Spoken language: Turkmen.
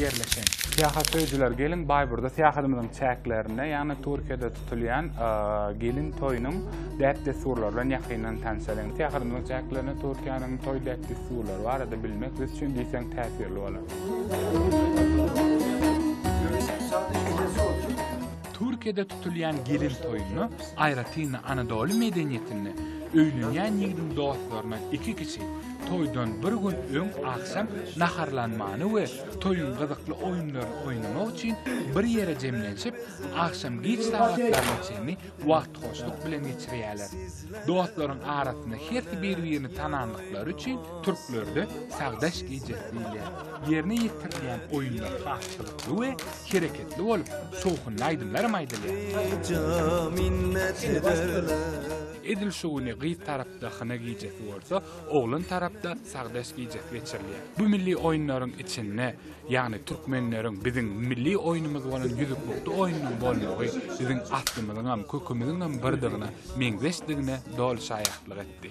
ýerleşen. Syýahatsöýüjiler gelin Baýburda syýahadymyzyň çäklerinde, ýagny Türkiýede tutulýan gelin toýunyň däp-dessurlary bilen ýakyndan tanşalyň. Syýahadymyzyň çäklerinde Türkiýäniň toý däp-dessurlary barada bilmek biz üçin diýseň täsirli bolar. Türkiýede tutulýan gelin toýunda, aýratyn-da Anadoly medeniýetinde öýlenýän ýigidiň dostlarynyň iki kişi toýdan bir gün öň agşam naharlanmany we toýuň gyzykly oýunlaryny oýnamak üçin bir ýere jemlenşip, agşam giç sagatlaryna çenli wagty hoşluk bilen geçirýärler. Dostlaryň arasynda hersi bir-birini tanandyklary üçin türklerde Sagdaş gijesi diýilýär. Ýerine ýetirilýän oýunlar has gyzykly we hereketli bolup, şowhunly aýdymlaram aýdylýar. Edil şu güni gyz tarapda hyna gijesi bolsa, oglan tarapda sagdaş gijesi geçirilýär. Bu milli oýunlaryň içinde, ýagny türkmenleriň biziň milli oýnumyz bolan ýüzüklukdy oýnunyň bolmagy biziň aslymyzyňam, kökümiziňem birdygyna, meňzeşdigine doly şaýatlyk etdi.